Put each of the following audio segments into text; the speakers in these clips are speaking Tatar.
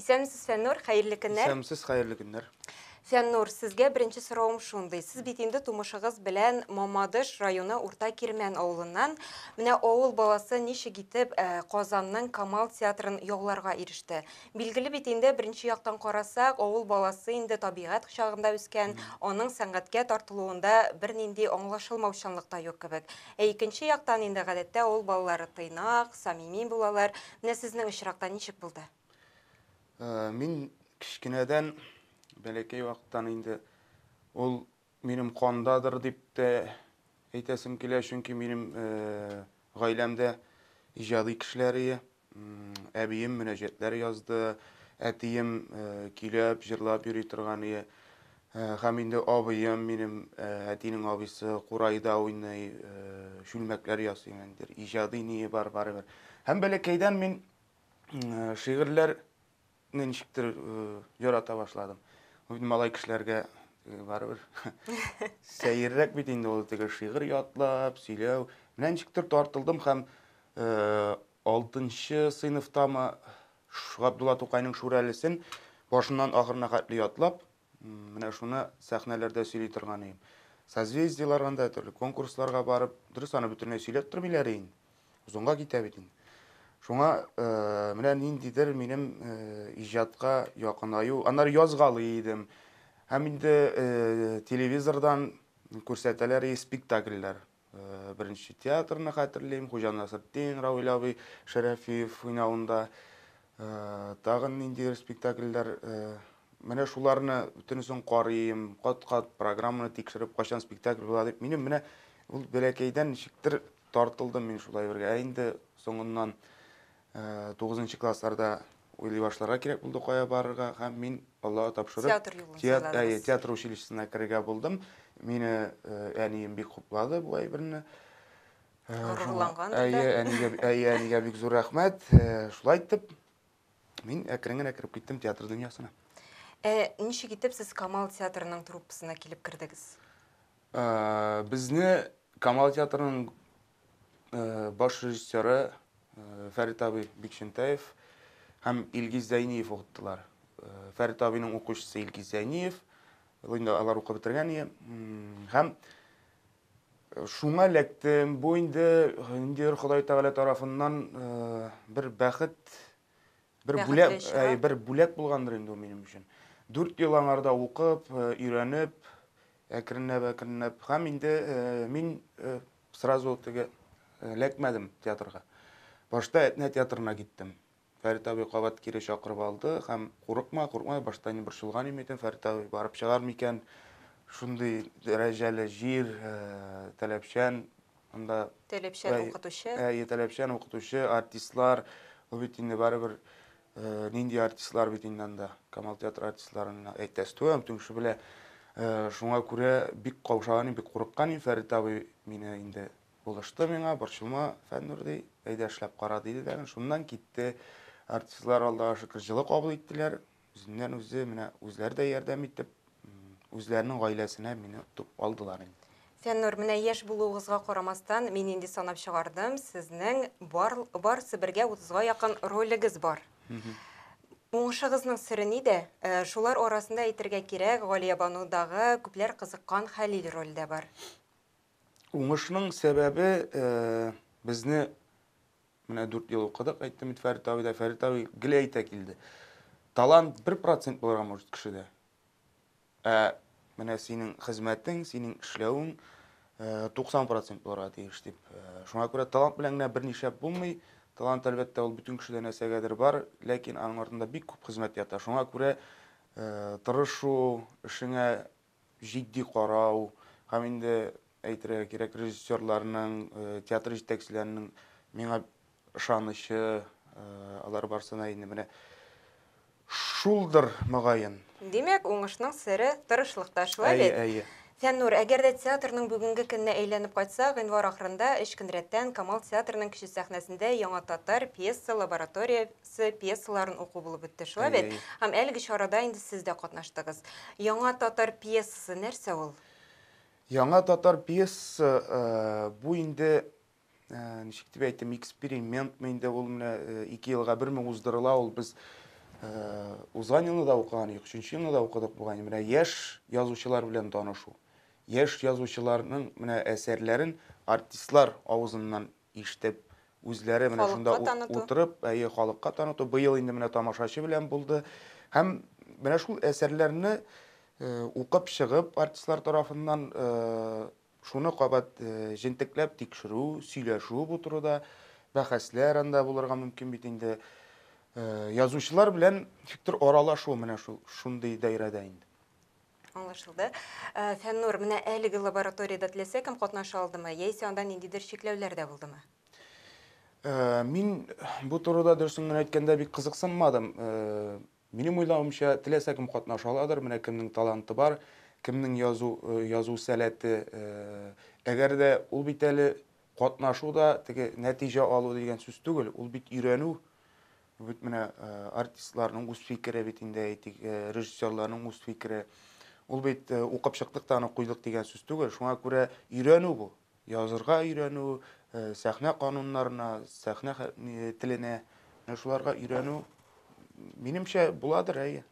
Исәнмесез, Фәннур, хәерле көннәр. Исәнмесез, хәерле көннәр. Фәннур, сезгә беренче сорауым шундый. Сез бит инде тумышыгыз белән Мамадыш районы Урта Кирмән авылыннан. Менә авыл баласы ничек итеп э, Казанның Камал театрын яуларга иреште. Билгеле бит инде беренче яктан карасак, авыл баласы инде табигать кочагында үскән, аның сәнгатькә тартылуында бернинди аңлашылмаучанлык та юк кебек. Ә икенче яктан инде гадәттә авыл балалары тыйнак, самими булалар. Менә сезнең очракта ничек булды? Мин кечкенәдән, бәләкәй вакыттан инде ул минем кандадыр дип тә әйтәсем килә, чөнки минем гаиләмдә иҗади кешеләре, әбием мөнәҗәтләр язды, әтием көйләп, җырлап йөри торган иде. Ә, һәм инде абыем минем, ә, әтинең абыйсы курайда уйный, ә, чүлмәкләр ясый, нидер иҗади ние бар барыбер. Һәм бәләкәйдән мин ә, шигырьләр не ничектер ярата башладым. Бу бит малай кешеләргә барыбер сәеррәк бит инде ул теге шигырь ятлап, сөйләү. Менә ничектер тартылдым һәм Алтынчы сыйныфтамы, Габдулла Тукайның Шүрәлесен башыннан ахырына хәтле ятлап, менә шуны сәхнәләрдә сөйли торган идем. Созвездиеларга да, төрле конкурсларга барып, дөрес аны бөтенләй сөйләп тормыйлар инде. Озынга китә бит инде. Шуңа э, менә ниндидер минем э, иҗатка якынаю, аннары язгалый идем. Һәм инде э, телевизордан күрсәтәләр и спектакльләр. Беренче театрны хәтерлим, Хуҗа Насретдин, Равил абый Шәрәфиев уйнавында. Тагын ниндидер спектакльләр, менә шуларны бөтенесен карыйм, кат-кат программаны тикшереп, кайчан спектакль була дип. Минем менә ул бәләкәйдән ничектер тартылдым мин шулай бергә. Ә инде соңыннан Тугызынчы классларда уйлый башларга кирәк булды, кая барырга, һәм мин Аллага тапшырып, театр юлын сайладыгыз. Театр училищесына керергә булдым. Мине әнием бик хуплады бу әйберне. Горурлангандыр да. Әйе, әнигә, әйе, әнигә бик зур рәхмәт. Шулай итеп, мин әкрен генә кереп киттем театр дөньясына. Ә ничек итеп сез Камал театрының труппасына килеп кердегез? Безне Камал театрының Баш режиссеры Фәрит абый Бикчентаев һәм Илгиз Зәйниев укыттылар. Фәрит абыйның укучысы Илгиз Зәйниев, инде алар укып бетергән иде. Һәм шуңа эләктем. Бу инде ниндидер Ходай Тәгалә тарафыннан бер бәхет Бер Бәхетле бүләк, чыга. әй, бер бүләк булгандыр инде ул минем өчен. Дүрт ел аңарда укып, э, өйрәнеп, әкренләп, әкренләп һәм инде э, мин э, сразу теге э, эләкмәдем театрга. Башта Әтнә театрына киттем. Фәрит абый кабат кире чакырып алды һәм курыкма, курыкма, башта мин борчылган идем идем, Фәрит абый барып чыгар микән? Шундый дәрәҗәле җир, э, таләпчән, Анда Таләпчән Әй, укытучы. Әй, таләпчән укытучы, артистлар, ул бит инде барыбер э, нинди артистлар бит инде анда. Камал театры артистларына әйтәс түгел, түңше белә. Э, шуңа күрә бик каушаган идем, бик курыккан идем. Фәрит абый мине инде булышты миңа, борчылма, Фәннур ди, әйдә эшләп кара диде дә, шуннан китте. Артистлар Аллага шөкер җылы кабул иттеләр. Үзеннән-үзе, менә үзләре дә ярдәм итеп, үзләренең гаиләсенә мине отып алдылар инде. Фәннур, менә яшь булуыгызга карамастан, мин инде санап чыгардым, сезнең бар, барысы бергә утызга якын ролегез бар. Уңышыгызның сере нидә? Шулар арасында әйтергә кирәк, Галиябанудагы күпләр кызыккан Хәлил роль дә бар. Уңышның сәбәбе, безне Менә дүрт ел укыдык, әйттем бит Фәрит абый да, Фәрит абый гел әйтә килде. Талант бер процент булырга может кешедә. Ә менә синең хезмәтең, синең эшләвең 90 э, процент булырга тиеш дип. Э, шуңа күрә талант белән генә берни шәп булмый. Талант, әлбәттә, ул бөтен кешедә нәрсәгәдер бар, ләкин аның артында бик күп хезмәт ята. Шуңа күрә э, тырышу, эшеңә җитди карау һәм инде әйтергә кирәк, режиссерларның, театр җитәкчеләренең миңа ышанычы, алар барсына инде менә шулдыр, мөгаен. Димәк, уңышның сере, тырышлыкта, шулай бит? Әйе, әйе. Фәннур, әгәр дә театрның бүгенге көненә әйләнеп кайтсак, гыйнвар ахырында, өч көн рәттән, Камал театрының Кече сәхнәсендә яңа татар пьеса-лаборатория се пьесаларын уку булып үтте, шулай бит? Һәм әлеге чарада инде сез дә катнаштыгыз. Яңа татар пьесасы нәрсә ул? Яңа татар пьесасы э, бу инде э, ничек дип әйтим, экспериментмы инде ул менә э, ике елга берме уздырыла ул без узган елны да укыган идек, өченче елны да укыдык бугай. Менә яшь язучылар белән танышу. Яшь язучыларның менә әсәрләрен артистлар авызыннан ишетеп, үзләре менә шунда утырып, әйе, халыкка таныту, быел инде менә тамашачы белән булды. Һәм менә шул әсәрләрне укып чыгып, артистлар тарафыннан шуны кабат җентекләп тикшерү, сөйләшү бу турыда, бәхәсләр анда булырга мөмкин бит инде. Язучылар белән фиктор аралашу менә шул шундый даирәдә инде. Аңлашылды. Э, Фәннур, менә әлеге лабораториядә теләсә кем катнаша алдымы, яисә анда ниндидер чикләүләр дә булдымы? Э, мин бу турыда дөресен генә әйткәндә бик кызыксынмадым. Э, минем уйлавымча, теләсә кем катнаша аладыр, менә кемнең таланты бар, кемнең язу э, язу сәләте. Әгәр дә ул бит әле катнашу да теге нәтиҗә алу дигән сүз түгел, ул бит өйрәнү. Бит менә э, артистларның үз фикере бит инде әйтик, э, режиссерларның үз фикере. Ул бит э, укып чыктык та аны куйдык дигән сүз түгел. Шуңа күрә өйрәнү бу. Язырга өйрәнү, сәхнә кануннарына, сәхнә теленә, менә шуларга өйрәнү минемчә буладыр, әйе.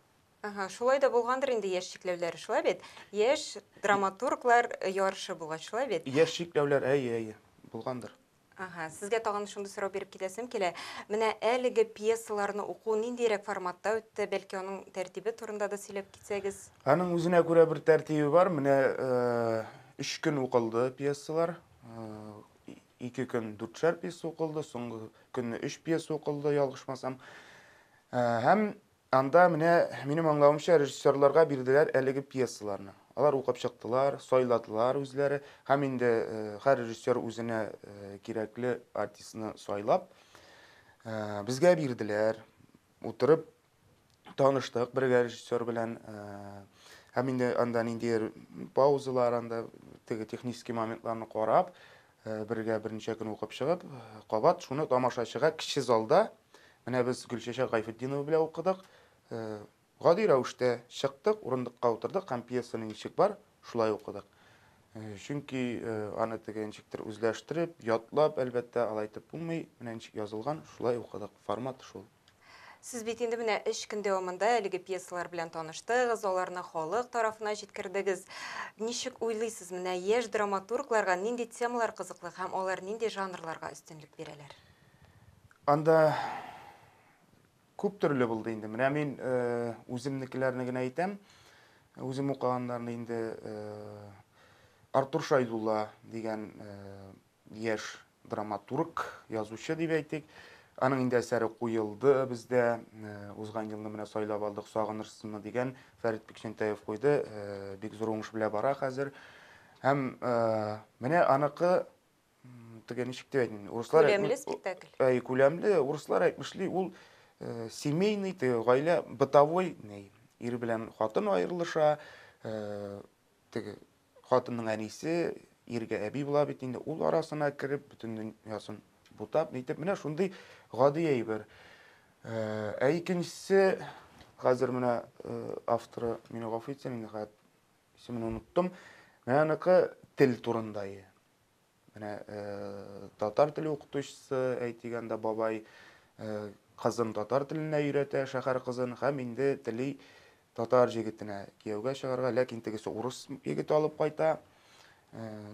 Ага, шулай да булгандыр инде яшь чикләүләре, шулай бит? Яшь драматурглар ярышы булгач, шулай бит? Яшь чикләүләр, әйе, әйе, булгандыр. Ага, сезгә тагын шундый сорау биреп китәсем килә. Менә әлеге пьесаларны уку ниндиерәк форматта үтте, бәлки аның тәртибе турында да сөйләп китсәгез? Аның үзенә күрә бер тәртибе бар. Менә өч көн укылды пьесалар. Ике көн дүртшәр пьеса укылды, соңгы көнне өч пьеса укылды, ялгышмасам. Һәм Анда, менә минем аңлавымча, режиссерларга бирделәр әлеге пьесаларны. Алар укып чыктылар, сайладылар үзләре һәм инде һәр режиссер үзенә кирәкле артистны сайлап, безгә бирделәр. Утырып таныштык бергә режиссер белән. Һәм инде анда ниндидер паузалар, анда теге технический моментларны карап, Бергә берничә көн укып чыгып, кабат шуны тамашачыга кече залда, менә без Гөлчәчәк Гайфетдинова белән укыдык, гади рәвештә чыктык, урындыкка утырдык һәм пьесаны ничек бар, шулай укыдык. Чөнки аны теге ничектер үзләштереп, ятлап, әлбәттә, алай итеп булмый, менә ничек язылган, шулай укыдык, формат шул. Сез бит инде менә өч көн дәвамында әлеге пьесалар белән таныштыгыз, аларны халык тарафына җиткердегез. Ничек уйлыйсыз, менә яшь драматургларга нинди темалар кызыклы һәм алар нинди жанрларга өстенлек бирәләр? Анда күп төрле булды инде. Менә мин э, үземнекеләрне генә әйтәм. Үзем укыганнарны инде э, Артур Шайдулла дигән э, Яшь драматург, язучы дип әйтик. Аның инде әсәре куелды бездә. Э, узган елны менә сайлап алдык Сагынышсынны дигән Фәрит Бикчәнтәев куйды. Э, бик зур уңыш белән бара хәзер. Һәм э, менә аныкы теге ничек дип әйтим, урыслар күләмле спектакль. Әй, күләмле, урыслар әйтмешли, ул семейный, теге гаилә бытовой, ир белән хатын аерылыша, теге Хатынның әнисе иргә әби була бит инде, ул арасына кереп, бөтен дөньясын бутап, нитеп, менә шундый гади әйбер. Э, ә икенчесе, хәзер менә э, авторы, мине гафу итсен, инде хәят исемен оныттым, менә аныкы тел турындайы. Менә татар теле укытучысы Әйтиганда бабай кызын татар теленә өйрәтә, шәһәр кызын, һәм инде тели татар җегетенә кияүгә чыгарга, ләкин тегесе урыс егете алып кайта.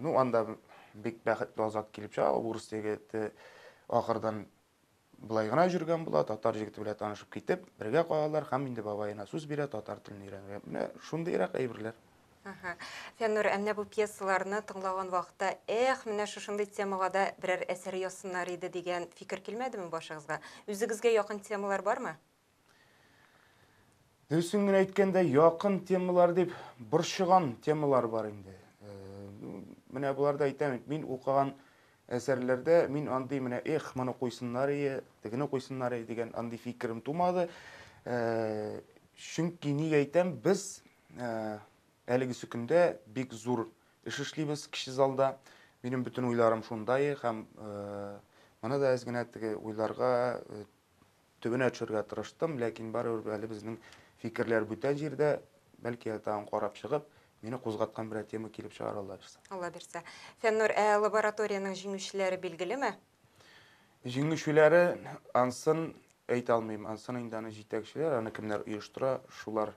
Ну, анда бик бәхетле азат килеп чыга, урыс егете ахырдан Болай гына җөргән була, татар җегете белән танышып китеп, бергә калалар һәм инде бабаена сүз бирә татар телен өйрәнергә. Менә шундыйрак әйберләр. Ага. Фәннур, ә менә бу пьесаларны тыңлаган вакытта, эх, менә шушындый темага да берәр әсәр язсыннар иде дигән фикер килмәдеме башыгызга? Үзегезгә якын темалар бармы? Дөресен генә әйткәндә, якын темалар дип борчыган темалар бар инде. Э, менә боларда әйтәм, мин укыган әсәрләрдә мин андый менә эх, моны куйсыннар ие, тегене куйсыннар ие дигән андый фикерем тумады. Э, чөнки ник әйтәм, без э, әлеге сөкендә бик зур эш эшлибез кече залда. Минем бөтен уйларым шунда һәм моны да әз генә теге уйларга Төбенә төшәргә тырыштым, ләкин барыбер әле безнең фикерләр бүтән җирдә, бәлки әле тагын карап чыгып, мине кузгаткан берәр тема килеп чыгар, Алла бирсә. Алла бирсә. Фәннур, ә лабораториянең җиңүчеләре билгелеме? Җиңүчеләре ансын әйтә алмыйм, ансын инде аны җитәкчеләр, аны кемнәр оештыра, шулар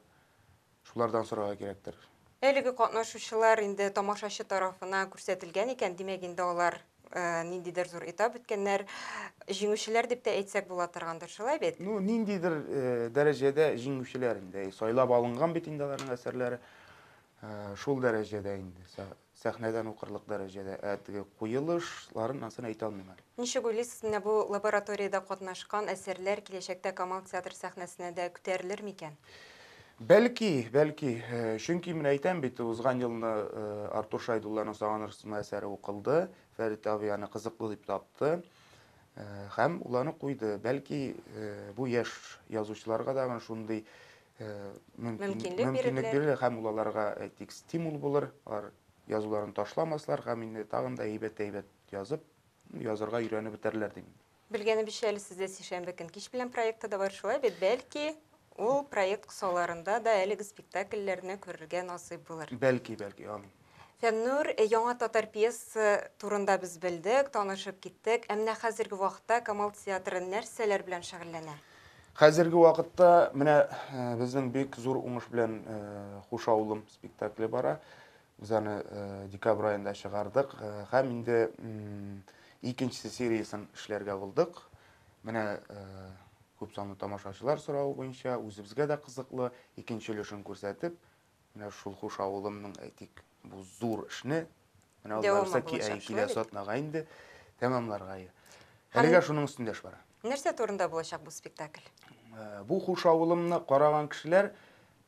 Шулардан сорарга кирәктер. Әлеге катнашучылар инде тамашачы тарафына күрсәтелгән икән, димәк инде алар ниндидер зур этап үткәннәр, җиңүчеләр дип тә әйтсәк була торгандыр, шулай бит? Ну, ниндидер дәрәҗәдә җиңүчеләр инде, сайлап алынган бит инде аларның әсәрләре, шул дәрәҗәдә инде. Сәхнәдән укырлык дәрәҗәдә әдге куелыш ларын ансын әйтә алмыйм әле. Ничек уйлыйсыз, менә бу лабораториядә катнашкан әсәрләр киләчәктә Камал театр сәхнәсенә дә күтәрелер микән? Бәлки, бәлки. Чөнки, менә әйтәм бит, узган елны Артур Шәйдулланың Сагынырсыңмы әсәре укылды, Фәрит абый аны кызыклы дип тапты һәм ул аны куйды. Бәлки, бу яшь язучыларга тагын шундый мөмкинлек бирелер һәм ул аларга әйтик стимул булыр алар язуларын ташламаслар һәм инде тагын да әйбәт әйбәт язып язырга өйрәнеп бетәрләр дим белгәнебезчә әле сездә сишәмбе көн кич белән проекты да бар шулай бит бәлки ул проект кысаларында да әлеге спектакльләрне күрергә насыйп булыр бәлки бәлки амин Фәннүр, яңа татар пьесасы турында без белдек, танышып киттек. Ә менә хәзерге вакытта Камал театры нәрсәләр белән шөгыльләнә? Хәзерге вакытта менә безнең бик зур уңыш белән Хуш авылым спектакле бара. Без аны декабрь аенда чыгардык һәм инде икенчесе сериясен эшләргә булдык. Менә күп санлы тамашачылар соравы буенча үзебезгә дә кызыклы, икенче өлешен күрсәтеп, Менә шул хуш авылымның, әйтик, бу зур эшне, менә ул Ларисаки әй килә сатнага инде, тәмамларга ие. Әлегә шуның өстендә эш бара. Нәрсә турында булачак бу спектакль? Бу хуш авылымны караган кешеләр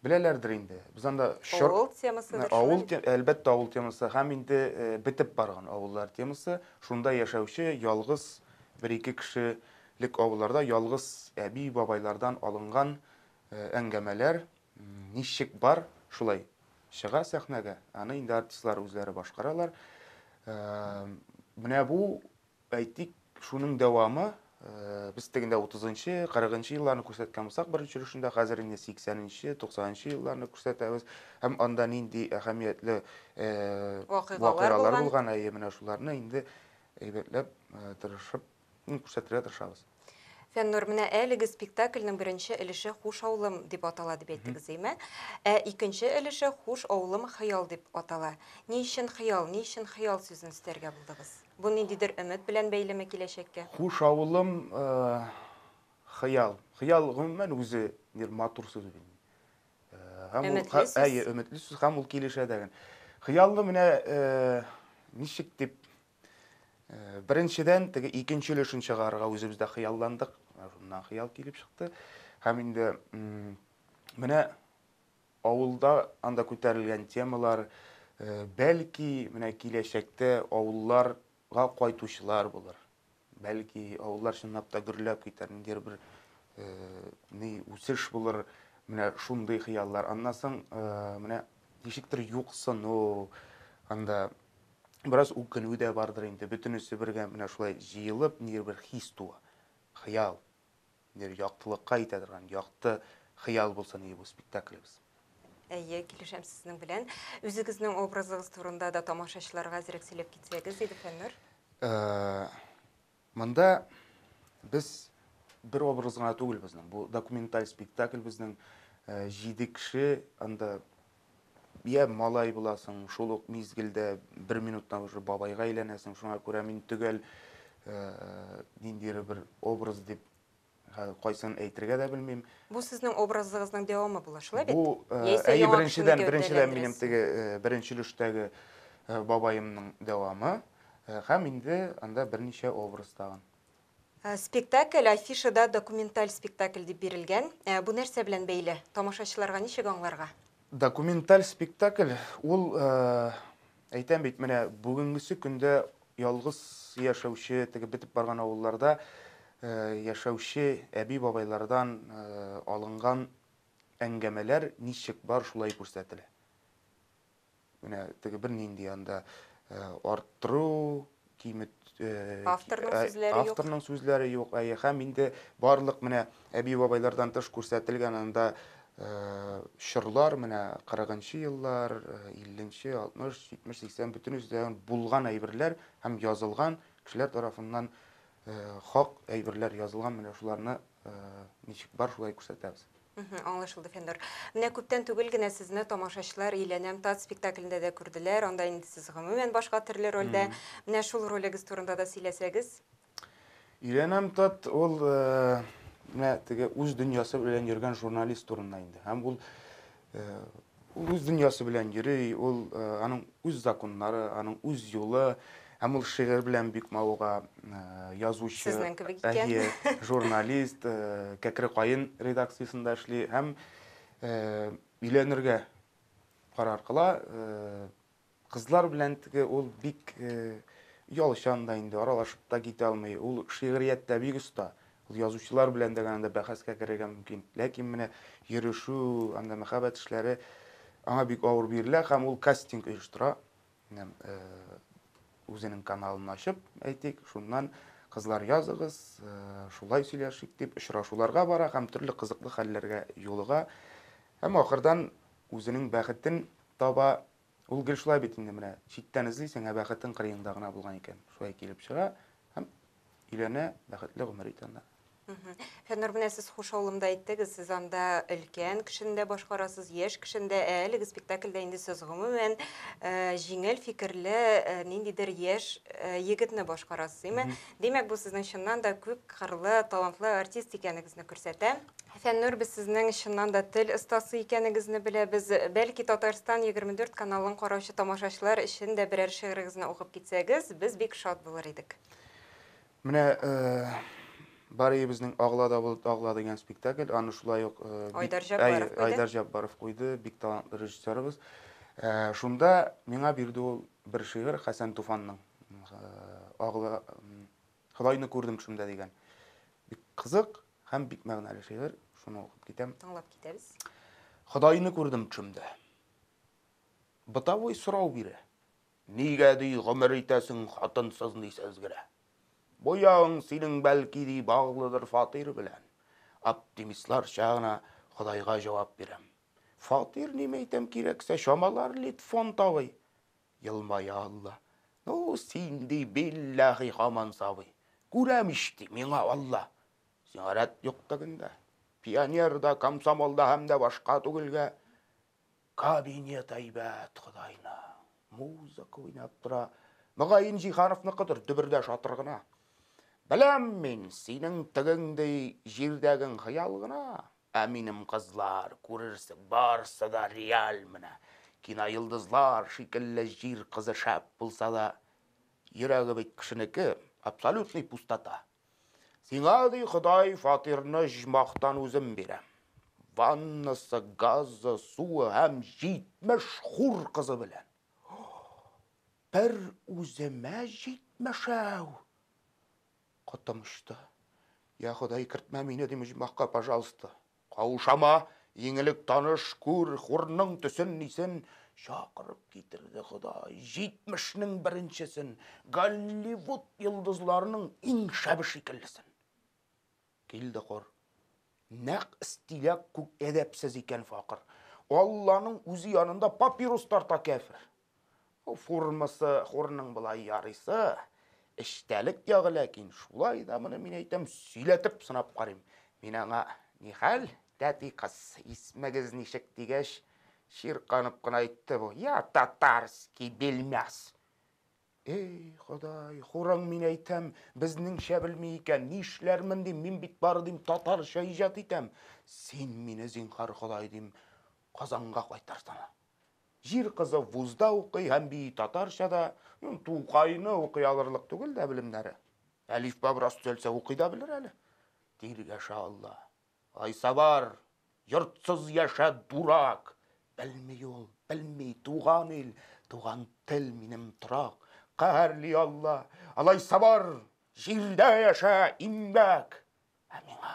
беләләрдер инде. Без анда чор... Авыл темасы. Авыл, әлбәттә, авыл темасы. Һәм инде бетеп барган авыллар темасы. Шунда яшәүче ялгыз бер-ике кешелек авылларда ялгыз әби-бабайлардан алынган әңгәмәләр. Ничек бар, шулай чыга сәхнәгә. Аны инде артистлар үзләре башкаралар. Менә бу, әйтик, шуның дәвамы. Без тегендә 30-нчы, 40-нчы елларны күрсәткән булсак, беренче өлешендә хәзер инде 80-нчы, 90-нчы елларны күрсәтәбез. Һәм анда нинди әһәмиятле вакыйгалар булган, әйе, менә шуларны инде әйбәтләп, тырышып Күрсәтергә тырышабыз. Фәннур, менә әлеге спектакльнең беренче өлеше Хуш авылым дип атала дип әйттегез, әйме? Ә икенче өлеше Хуш авылым хыял дип атала. Ни өчен хыял, ни өчен хыял сүзен өстәргә булдыгыз? Бу ниндидер өмет белән бәйлеме киләчәккә? Хуш авылым хыял. Хыял гомумән үзе бер матур сүз бит. Өметле сүз. Әйе, өметле сүз һәм ул килешә дә. Хыялны менә ничек дип Беренчедән, теге икенче өлешен чыгарырга үзебез дә хыялландык. Шуннан хыял килеп чыкты. Һәм инде менә авылда анда күтәрелгән темалар, э, бәлки, менә киләчәктә авылларга кайтучылар булыр. Бәлки, авыллар чынлап та гөрләп китәр, ниндидер бер э, ни үсеш булыр. Менә шундый хыяллар. Аннан соң э, менә ничектер юксыну, анда Бераз үкенү дә бардыр инде, бөтенесе бергә менә шулай җыелып, ниндидер бер хис туа. Хыял. Ниндидер яктылыкка итә торган, якты хыял булса нинди бу спектаклебез. Әйе, килешәм сезнең белән. Үзегезнең образыгыз турында да тамашачыларга әзрәк сөйләп китсәгез иде, Фәннүр. Э-э. Монда без бер образ гына түгел безнең. Бу документаль спектакль безнең э, җиде кеше анда я малай буласың, шул ук мизгелдә бер минуттан уже бабайга әйләнәсең. Шуңа күрә мин төгәл э, ниндидер бер образ дип Хәзер кайсын әйтергә дә белмим. Бу сезнең образыгызның дәвамы була, шулай бит? Бу, әйе, беренчедән, беренчедән минем теге беренче өлештәге бабаемның дәвамы һәм инде анда берничә образ тагын. Спектакль афишада документаль спектакль дип бирелгән. Бу нәрсә белән бәйле? Тамашачыларга ничек аңларга? Документаль спектакль ул Әйтәм бит, менә бүгенгесе көндә ялгыз яшәүче, теге бетеп барган авылларда яшәүче әби-бабайлардан алынган әңгәмәләр ничек бар, шулай күрсәтелә. Менә теге бернинди анда арттыру, кимет авторның сүзләре юк. Авторның сүзләре юк. Әйе, һәм инде барлык менә әби-бабайлардан тыш күрсәтелгән анда чорлар, менә 40-нчы еллар, 50-нче, 60, 70, 80 бөтен үзләрен булган әйберләр һәм язылган кешеләр тарафыннан хак әйберләр язылган менә шуларны ничек бар шулай күрсәтәбез. Аңлашылды, Фәннур. Менә күптән түгел генә сезне тамашачылар Иләнәм тат спектаклендә дә күрделәр. Анда инде сез гомумән башка төрле рольдә. Менә шул ролегез турында да сөйләсәгез. Иләнәм тат ул менә теге үз дөньясы белән йөргән журналист турында инде. Һәм ул Ул үз дөньясы белән йөри, ул аның үз законнары, аның үз юлы. Һәм ул шигырь белән бик мавыга, э, язучы, Сезнең кебек икән. әйе, журналист, э, Кәкре каен редакциясендә эшли һәм э, өйләнергә карар кыла. Э, Кызлар белән теге ул бик оялчан да инде, аралашып та китә алмый. Ул шигърияттә бик оста. Ул язучылар белән дә генә бәхәскә керергә мөмкин. Ләкин менә йөрешү, анда мәхәббәт эшләре аңа бик авыр бирелә һәм ул кастинг оештыра. Үзенең каналын ачып, әйтик, шуннан кызлар языгыз, шулай сөйләшик дип очрашуларга бара һәм төрле кызыклы хәлләргә юлыга. Һәм ахырдан үзенең бәхетен таба Ул гел шулай бит инде, менә читтән эзлисең, ә бәхетең кырыеңда гына булган икән. Шулай килеп чыга һәм өйләнә, бәхетле гомер итә анда. Фәннур, менә сез хуш авылымда әйттегез, сез анда өлкән кешене дә башкарасыз, яшь кешене дә, ә әлеге спектакльдә инде сез гомумән э, җиңел фикерле э, ниндидер яшь э, егетне башкарасыз, име? Димәк, бу сезнең чыннан да күп кырлы, талантлы артист икәнегезне күрсәтә. Фәннүр, без сезнең чыннан да тел остасы икәнегезне беләбез. Бәлки Татарстан 24 каналын караучы тамашачылар өчен дә берәр шигырегезне укып китсәгез, без бик шат булыр идек. Менә Бар өебезнең Агла да болыт агла дигән спектакль, аны шулай ук Айдар Җаббаров куйды. Айдар Җаббаров куйды, бик талантлы режиссерыбыз. Шунда миңа бирде ул бер шигырь Хәсән Туфанның. Агла Ходайны күрдем төшемдә дигән. Бик кызык, Һәм бик мәгънәле шигырь, шуны укып китәм. Тыңлап китәбез. Ходайны күрдем төшемдә. Бытовой сорау бирә. Нигә ди гомер итәсең хатынсыз ни сәзгерә? Бу ягың синең бәлки ди баглыдыр фатир белән. Оптимистларча гына Ходайга җавап бирәм. Фатир нимә әйтәм кирәксә чамалар литфон тавый. Елмая Алла. Ну, син, ди, билләһи, һаман сабый. Күрәм ич, ди, миңа Алла. Сиңа рәт юк тегендә. Пионер да, комсомол да һәм дә башка түгелгә. Кабинет әйбәт Ходайның. Музыка уйнап тора. Мөгаен, Җиһановныкыдыр, дөбердә шатыр гына. Беләм мин, синең тегең, ди, җирдәгең хыял гына. Ә минем кызлар, күрерсең, барсы да реаль менә. Киноелдызлар шикелле җир кызы шәп булса да, йөрәге бит кешенеке, абсолютный пустота. Сиңа, ди Ходай, фатирны жмахтан үзем бирәм. Ваннасы, газы, суы һәм 70 хур кызы белән. Бер үземә 70 әү! Котым очты. Я Ходай, кертмә мине, дим оҗмахка, пожалуйста. Каушама, иң элек таныш, күр, хурның төсен, нисен. Чакырып китерде Ходай, җитмешнең беренчесен, Голливуд йолдызларының иң шәбе шикеллесен. Килде хур. Нәкъ стиляк күк әдәпсез икән факыр. Алланың үзе янында папирус тарта кяфер. Формасы хорның болай ярыйсы, эчтәлек ягы ләкин, шулай да моны мин әйтәм, сөйләтеп сынап карыйм. Мин аңа, Нихәл, тәти кыз, исмегез ничек? дигәч, чирканып кына әйтте бу, Я татарский белмәс! Эй, Ходай, хорың, мин әйтәм, безнеңчә белми икән, нишләрмен, дим, мин бит бары, дим, татарча иҗат итәм. Син мине, зинһар, Ходай, дим, Казанга кайтарсана. Җир кызы вузда укый һәм бии татарча да, ну, Тукайны укый алырлык түгел дә белемнәре. Әлифба бераз төзәлсә укый да белер әле. Диир яшә Алла. Айсабар, йортсыз яшә, дурак! Белми ул, белми, туган ил, туган тел минем торак. Каһәрли Алла. Алайсабар, җирдә яшә, имбәк! Ә миңа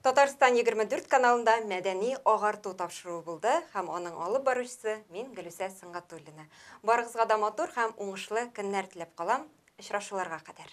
Татарстан 24 каналында мәдәни агарту тапшыруы булды һәм аның алып баручысы мин Гөлүсә Сөнгатуллина. Барыгызга да матур һәм уңышлы көннәр теләп калам. Очрашуларга кадәр.